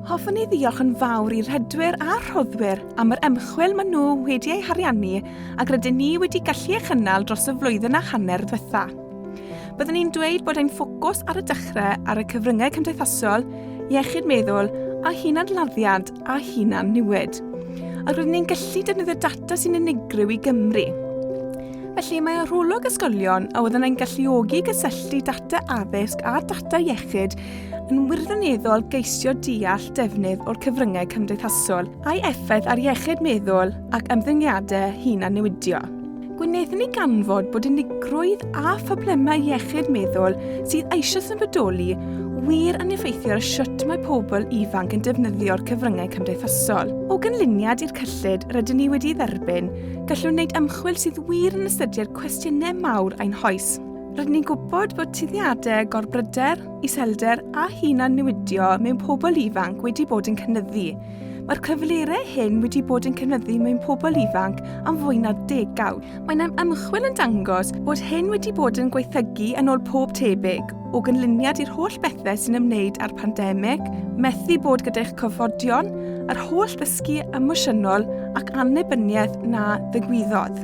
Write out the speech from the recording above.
Hoffwn i ddiolch yn fawr i rhedwyr a rhoddwyr am yr ymchwil maen nhw wedi ei hariannu ac rydyn ni wedi gallu ei chynnal dros y flwyddyn a hanner ddiwetha. Byddwn i'n dweud bod ein ffocws ar y dechrau ar y cyfryngau cymdeithasol, iechyd meddwl a hunanladdiad a hunan niwyd. Ac rydyn ni'n gallu defnyddio data sy'n unigryw i Gymru. Felly mae arolwg ysgolion a oedd yn ein galluogi gysylltu data addysg a data iechyd yn wirioneddol geisio deall defnydd o'r cyfryngau cymdeithasol a'i effaith ar iechyd meddwl ac ymddygiadau hun a newidio. Gwnaethon ni ganfod bod unigrwydd a phroblemau iechyd meddwl sydd eisoes yn bodoli wir yn effeithio ar siwt mae pobl ifanc yn defnyddio'r cyfryngau cymdeithasol. O gynlluniad i'r cyllid rydyn ni wedi dderbyn, gallwn wneud ymchwil sydd wir yn ystyried cwestiynau mawr ein hoes. Rydyn ni'n gwybod bod tueddiadau gorbryder, iselder a hunan newidio mewn pobl ifanc wedi bod yn cynnyddu. Mae'r cyflyrau hyn wedi bod yn cynnyddu mewn pobl ifanc am fwy na degawd. Mae yna ymchwil yn dangos bod hyn wedi bod yn gweithygu yn ôl pob tebyg, o gynlluniad i'r holl bethau sy'n ymwneud â'r pandemig, methu bod gyda'ch cofodion, yr holl ddysgu emosiynol ac annibyniaeth na ddigwyddodd.